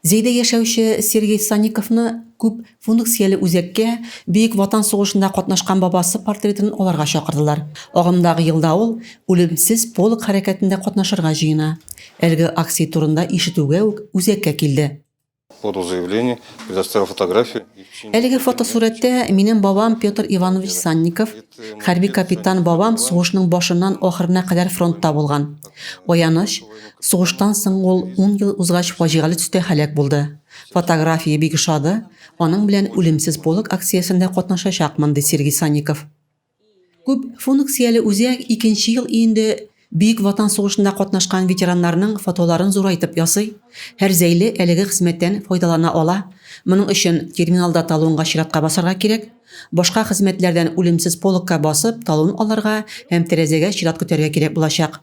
Зәйдә яшәүче Сергей Санниковны күп функцияле үзәккә Бөек Ватан сугышында катнашкан бабасы портретын алырга чакырдылар. Агымдагы елда ул Үлемсез полк хәрәкәтендә катнашырга җыена. Әлеге акция турында ишетүгә үк үзәккә килде. Подал заявление, предоставил фотографию. Әлеге фотосурәттә минем бабам Петр Иванович Санников, хәрби капитан бабам сугышның башыннан ахырына кадәр фронтта булган. Аяныч, Сугыштан соң ул ун ел узгач фаҗигале төстә һәлак булды. Фотография бик ошады, аның белән Үлемсез полк акциясендә катнашачакмын, ди Сергей Санников. Күп функцияле үзәк икенче ел инде Бөек Ватан сугышында катнашкан ветераннарның фотоларын зурайтып ясый. Һәр зәйле әлеге хезмәттән файдалана ала. Моның өчен терминалда талонга чиратка басарга кирәк. Башка хезмәтләрдән Үлемсез полкка басып талон алырга һәм тәрәзәгә чират көтәргә кирәк булачак.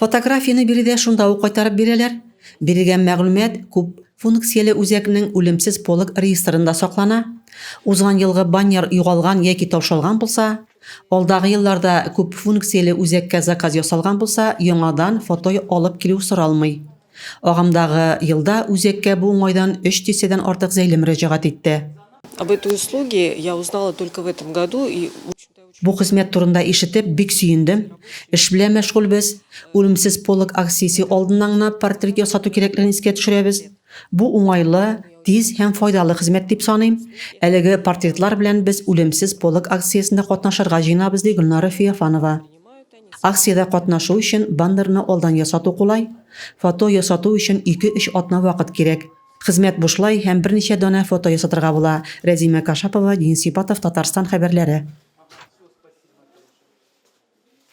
Фотографияне биредә шунда ук кайтарып бирәләр. Бирелгән мәгълүмат күп функцияле үзәкнең үлемсез полок реестрында саклана. Узган елгы баннер югалган яки таушалган булса, алдагы елларда күп функцияле үзәккә заказ ясалган булса, яңадан фото алып килү соралмый. Агымдагы елда үзәккә бу уңайдан өч дистәдән артык зәйле мөрәҗәгать итте. Об этой услуге я узнала только в этом году и очень. Бу хезмәт турында ишетеп, бик сөендем. Эш белән мәшгульбез. Үлемсез полок акциясе алдыннан гына портрет ясату кирәклеген искә төшерәбез. Бу уңайлы, тиз һәм файдалы хезмәт дип саныйм. Әлеге портретлар белән без Үлемсез полок акциясендә катнашырга җыенабыз, ди Гөлнара Феофанова. Акциядә катнашу өчен баннерны алдан ясату кулай. Фото ясату өчен ике-өч атна вакыт кирәк. Хезмәт бушлай һәм берничә данә фото ясатырга була, Рәзимә Кашапова, Денис Сипатов, Татарстан хәбәрләре.